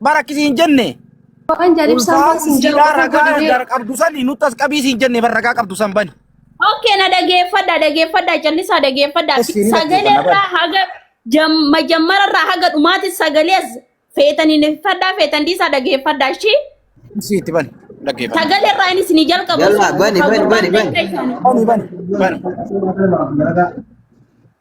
bara akkisi hin jenne. Waan jaalibsaan Ulfaan baasin jiru siidhaa qofa ragaa godhee. gar qabdu sani nutti as qabii siin jenne bara ragaa qabdu san bani. Okay, na dhageeffadha, dhageeffadha, callisaa dhageeffadha. Yes, ni Sagalee dhageeffanna, irraa haga jam- majammara irraa haga dhumaatti sagalee as feetan hin fadhaa feetan dhiisaa dhageeffadha ishii. Isii itti bani dhaggeeffadha. Sagalee irraa inni isinii jalqabu. Yalla, bani, bani, bani, bani. Bani bani bani.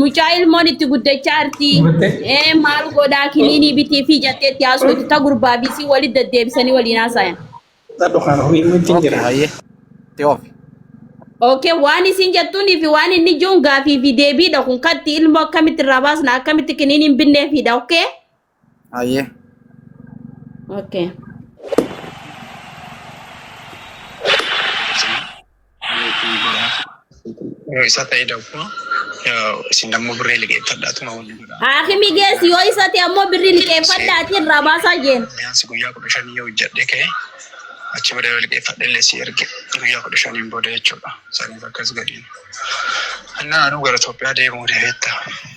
Mucaa ilmoon itti guddachaa arti. Gubattee? Ee maal godhaa kiniinii bitii fi jattee itti haasoftu ta gurbaa fi isii walitti deddeebisanii waliin haasayan. Dhadhu kana horii immoo ittiin Okay, jira. hayyee. Itti oofi. Okay, waan isin jettuunii fi waan inni jiruun gaafii fi deebiidha kun katti ilmoo akkamitti irraa baasna akkamitti kiniiniin binneefiidha okay? Hayyee. Okay. Yoo isa ta'e dabboo isin dammoo birree liqeeffadhaatuma waliin godha. Haakimi geessi yoo isa ta'e ammoo birrii liqeeffadhaati irraa baasaa jeen. Biyaansi guyyaa kudha shanii yoo hojjedhe ka'e achi booda yoo liqeeffadhe illee si erge guyyaa kudha shaniin booda jechuudha. Saniif akkas gadiin. Annaa anuu gara Itoophiyaa deemuu deebiitta.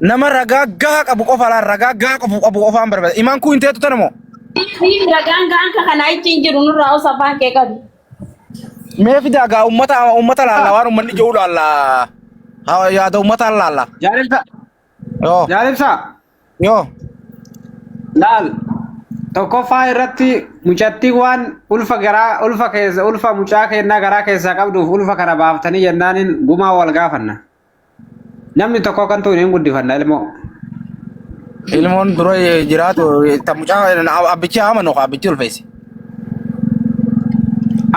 Nama ragaa gahaa qabu qofa laal ragaa gahaa qabu qabu qofaan barbada. Imaan kuu hin teetu tana moo? Fiif ragaan ga'an ka kanaa ichi hin jiru nurraa osa afaan kee qabi. Mee fidaa gaa uummata uummata laalla waan uummanni jedhu laalla. Haa, Yaada uummataan laalla. Jaalibsaa. Yoo Jaalibsaa. yoo Laal. Tokkoffaa irratti mucattii waan ulfa garaa ulfa keessa ulfa mucaa kennaa garaa keessaa qabduuf ulfa kana baaftanii jennaaniin gumaa wal gaafanna. Namni tokko kan tuune hin guddifanna ilmoo. Ilmoon dura jiraatu ta mucaa abbichi amanu ka abbichi ulfeesse.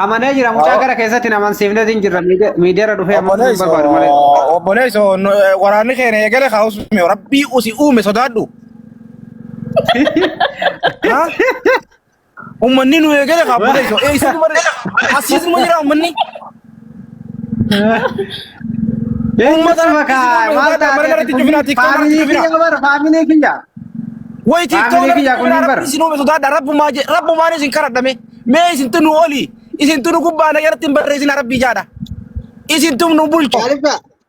Amanee jira mucaa gara keessatti hin amansiifne hin jirra miidiyaarra dhufee amanuu hin barbaadu malee. Obboleesso waraanni keenya eegale haa usumee rabbii usi uume sodaadhu. Ha? Ummanni nu eegale kaa booda isa. Ee isa dubarri. Asiis numa jira ummanni. Uummata makaa maal taate faamilii kiyya bar faamilii kiyya. Way Faamilii kiyya kun hin bara. isin uume sodaadha rabbumaa je rabbumaan isin karadhame mee isin tunu oli isin tunu gubbaa na irratti hin barreesina rabbii jaadha isin tunu bulchu Maaliif ta'a?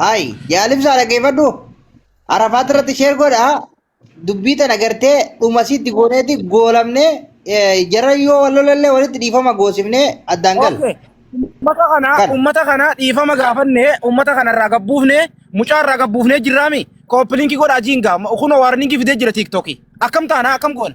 Haay yaalimsaa dhaggeeffadhu arafaat irratti sheer godha dubbii tana gartee dhuma sitti gooneeti goolamnee jara yoo wal lolallee walitti dhiifama goosifnee addaan gal. Okay. Ummata kana Kan. ummata kana dhiifama gaafanne ummata kana irraa gabbuufne mucaa irraa gabbuufne jirraami. Kooppiliinki godha ajiin gaa kunoo waarniinki fidee jira tiiktookii. Akkam taana akkam goona?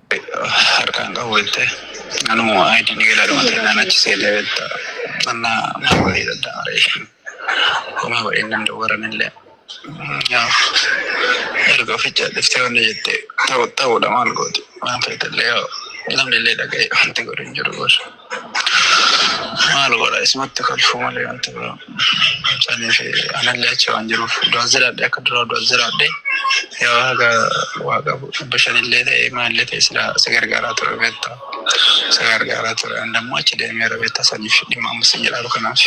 harkaan qabu jette anuu aayidii ni gala dhuma ta'e naan achi seetee betta annaa maal godhee dadda'a reeshin homaa godhee nan dawwaran illee yaaf erga oficha dhiftee wanna jette ta'u ta'uudha maal gooti waan feetallee yoo namni illee dhaga'e wanti godhu hin jiru gosa. Maal godha isumatti kolfuu malee wanti biraa. Saniif anallee achi waan jiruuf du'as jiraadhe akka duraa du'as jiraadhe yoo haga waa qabu dhibba shanillee ta'e maalillee ta'e silaa si gargaaraa ture beektaa. Si gargaaraa ture an dammoo achi deemeera beektaa saniif dhimma amma si jedhaaru kanaaf.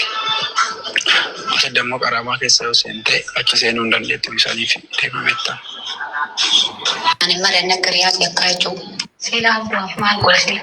Achi dammoo qaraamaa keessa yoo seente achi seenuu hin dandeettu bisaniif deema beektaa. Ani malee akka riyaas yakkaa jechuun. Silaa du'aaf maal godha sila.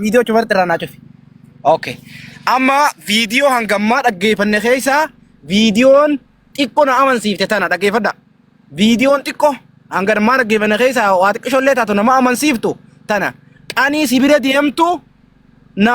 Viidiyoo cufarratti irraa naa cufi. Okay. Amma viidiyoo hanga ammaa dhaggeeffanne keessaa viidiyoon xiqqoo na amansiifte tana dhaggeeffadha. Viidiyoon xiqqoo hanga ammaa dhaggeeffanne keessaa waa xiqqishoo illee taatu nama amansiiftu tana qanii si bira deemtu na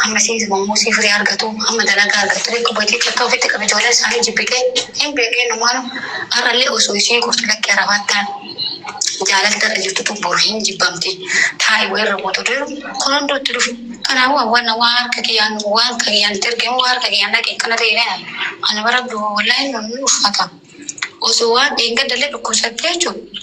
Hamma isiin zimamuu isii firii argatu, hamma dalagaa argattu beekka obboleettiin takka ofitti qabe ijoolleen isaanii jibbite hin beekne innumaanu har'allee osoo isiin gortu lakkii arabaattaan jaalalti har'a jirtutu boru hin jibbamti taa'i wayii irra buutu jedhu kun hunduu itti dhufe kanaafuu hawwanna waan harka kiyyaan waan harka kiyyaan itti erge immoo waan harka kiyyaan dhaqe akkana ta'e jedhan ani bara wallahi inni ulfaata osoo waan dheengadda illee dhukkubsattee jechuudha.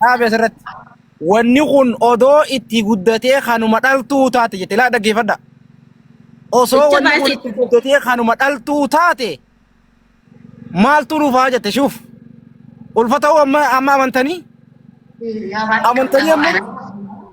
dhaabe asirratti. Wanni kun odoo itti guddatee kanuma dhaltuu taate jette laa dhaggeeffadha. Osoo Jecha wanni kun baay'ee itti guddatee kanuma dhaltuu taate maaltu dhufaa jette shuuf. Ulfa ta'uu amma amma amantanii amantanii amma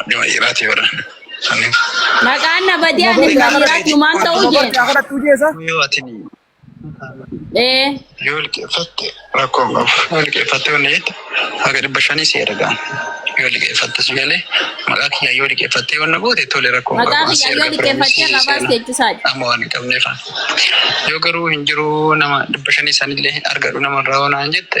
Adduma dhiiraati bara. Saniif. Maqaan na badee ani ilma dhiiraati humaan ta'uu jeen. Yoo ati Ee. yoo liqeeffatte rakkoo hin qabu. Yoo liqeeffatte yoo neetti haga dhibba shanii si ergaan. Yoo liqeeffatte si galee maqaa kiyyaa yoo liqeeffatte yoo na goote tole rakkoo hin Maqaa qabu. Asi kiyyaa yoo erga liqeeffattee piroomisii irraa baas seenaa. jechuusaati. Amma waan hin qabneef. Yoo garuu hin jiru nama dhibba shanii sanillee argadhu namarraa waan hin jette.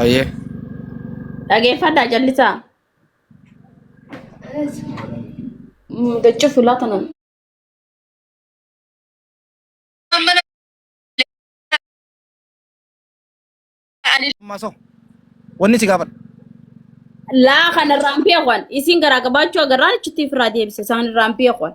Ayyee. Dhageeffadhaa callisaa. Dacca fulaa tanan. Masoo. Wanni si gaafadha. Laa kanarraan beekwan isin garaa gabaachuu agarraan achitti ofirraa deebise isaan irraan beekwan.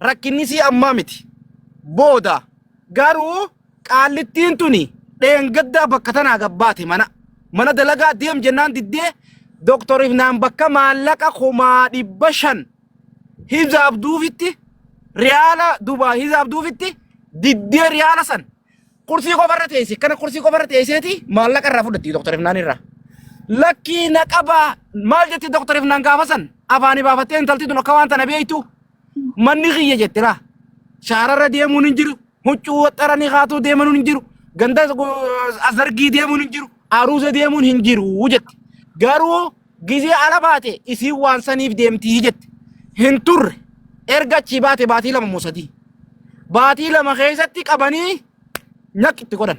Rakkinnisii ammaa miti. Booda. Garuu qaallittiin tuni dheengaddaa bakka tanaa gabbaate mana. Mana dalagaa deem jennaan diddee Dooktor Ifnaan bakka maallaqa kumaa dhibba shan hisaabduufitti riyaala dubaa hisaabduufitti diddee riyaala san kursii qofarra teesse kana kursii qofarra teesseeti maallaqa irraa fudhatti Dooktor Ifnaan irraa. Lakkii na qabaa maal jetti Dooktor Ifnaan gaafa san afaanii baafattee intalti tun akka waan tana beektu manni kiyya jette laa shaararra deemuun hin jiru huccuu waxxaranii kaatuu deemuun hin jiru ganda asargii deemuun hin jiru aruusa deemuun hin jiru jette garuu gizee ala baate isiin waan saniif deemtii jette hin turre erga achii baate baatii lama moo sadii baatii lama keessatti qabanii nyaq itti godhan.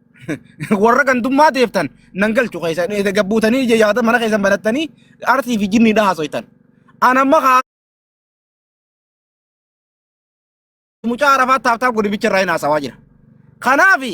warra gandummaa teeftan nan galchu keessa gabbuutanii ija yaada mana keessan banattanii arsii fi jinnii dhaa haasoytan. An amma haa mucaa arafaa taaftaaf godibicha irraa hin haasawaa jira. Kanaafi